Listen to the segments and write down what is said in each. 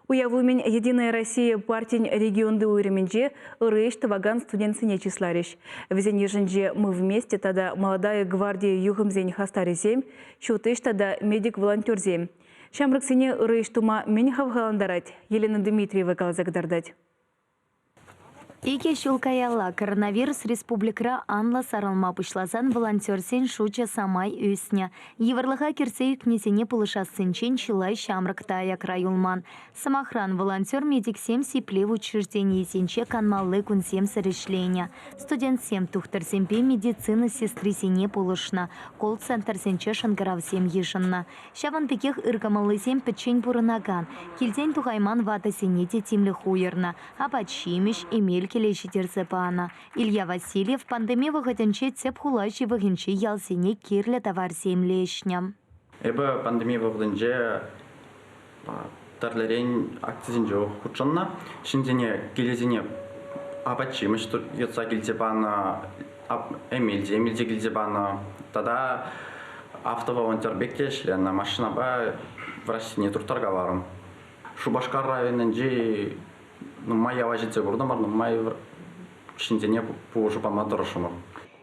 Уяв умӗн «Единая Россия» партин регионти уйрӑмӗнче ырӑ ӗҫ тӑвакан студентсене чысларӗҫ. Вӗсен йышӗнче «Мы вместе» тата «Молодая гвардия юхӑмсен хастарӗсем», «Ҫут ӗҫ» тата «Медик-волонтерсем». Ҫамрӑксене ырӑ ӗҫ тума мӗн хавхалантарать? Елена Дмитриева каласа кӑтартать. Икӗ ҫул каялла коронавирус республикӑра анлӑ сарӑлма пуҫласан волонтерсен шучӗ самай ӳснӗ. Йывӑрлӑха кӗрсе ӳкнисене пулӑшассинчен чылай ҫамрӑк та аякра юлман. Сӑмахран, волонтер-медиксем сиплев учрежденийӗсенче канмалли кунсемсӗр ӗҫленӗ. Студентсем тухтӑрсемпе медицина сестрисене пулӑшнӑ, колл-центрсенче шӑнкӑравсем йышӑннӑ. Ҫавӑн пекех ыркӑмӑллисем пӗччен пурӑнакан, килтен тухайман ватӑсене те тимлӗх уйӑрнӑ, апат-ҫимӗҫ, эмел кӗле ҫитерсе панӑ. Илья Васильев пандеми вӑхӑтӗнче тӗп хула ҫывӑхӗнчи ялсене кирлӗ таварсем леҫнӗ. Эпӗ пандеми вӑхӑтӗнче тӗрлӗрен акцисенче хутшӑннӑ. Ҫынсене килӗсене апат-ҫимӗҫ йӑтса килсе панӑ, эмелсем илсе килсе панӑ тата автоволонтер пек те ӗҫленӗ. Машинапа враҫсене турттаркаларӑм. Шупашкар районӗнчи нумай ява ҫитсе куртӑмӑр, нумай ҫынсене пулӑшу пама тӑрӑшрӑмӑр.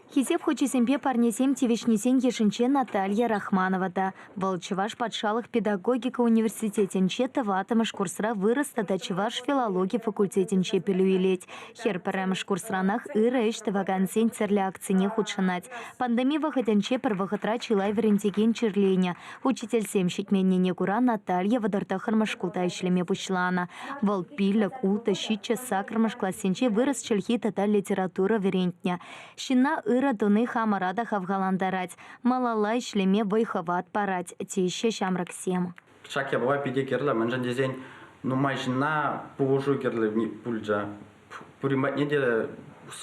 Хисеп хучӗсемпе парнесем тивӗҫнисен йышӗнче Наталья Рахманова та. Вӑл Чӑваш патшалӑх педагогика университетӗнче тӑваттӑмӗш курсра вырӑс тата чӑваш филологи факультетӗнче пӗлӳ илет. Хӗр пӗрремӗш курсранах ырӑ ӗҫ тӑвакансен тӗрлӗ акцине хутшӑнать. Пандеми вӑхӑтӗнче пӗр вӑхӑтра чылай вӗрентекен чирленӗ. Учительсем ҫитменнине кура Наталья вӑтӑр тӑххӑрмӗш шкулта ӗҫлеме пуҫланӑ. Вӑл пиллӗк, ултӑ, ҫиччӗ саккӑрмӗш классенче вырӑс чӗлхи тата литература вӗрентнӗ. Ҫынна ырӑ туни хамӑра та хавхалантарать, малалла ӗҫлеме вӑй-хӑват парать, теҫҫӗ ҫамрӑксем. Ҫак япала питӗ кирлӗ, мӗншӗн тесен нумай ҫынна пулӑшу кирлӗ пулчӗ. Пурин патне те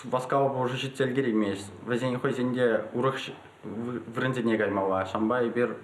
васкавлӑ пулӑшу ҫитсе ӗлкӗреймест. Вӗсен хӑйсен те урӑх вырӑнсене каймалла. Ҫавӑнпа эпир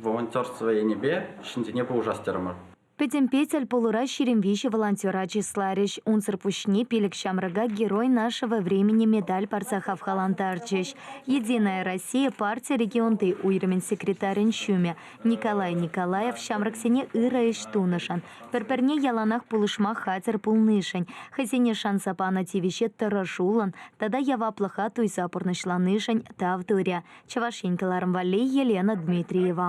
волонтерство енӗпе ҫынсене пулӑшас терӗмӗр. Пӗтӗмпе тӗл пулура ҫирӗм виҫӗ волонтера чысларӗҫ. Унсӑр пуҫне пилӗк ҫамрӑка Герой нашего времени медаль парса хавхалантарчӗҫ. «Единая Россия» парти регионти уйрӑмӗн секретарӗн ҫумӗ Николай Николаев ҫамрӑксене ырӑ ӗҫ тунӑшӑн, пӗр-пӗрне яланах пулӑшма хатӗр пулнишӗн, хӑйсене шанса панӑ тивӗҫе тӑрӑшуллӑн тата яваплӑха туйса пурнӑҫланишӗн тав турӗ. Чӑваш Ен кӑларӑм валли Елена Дмитриева.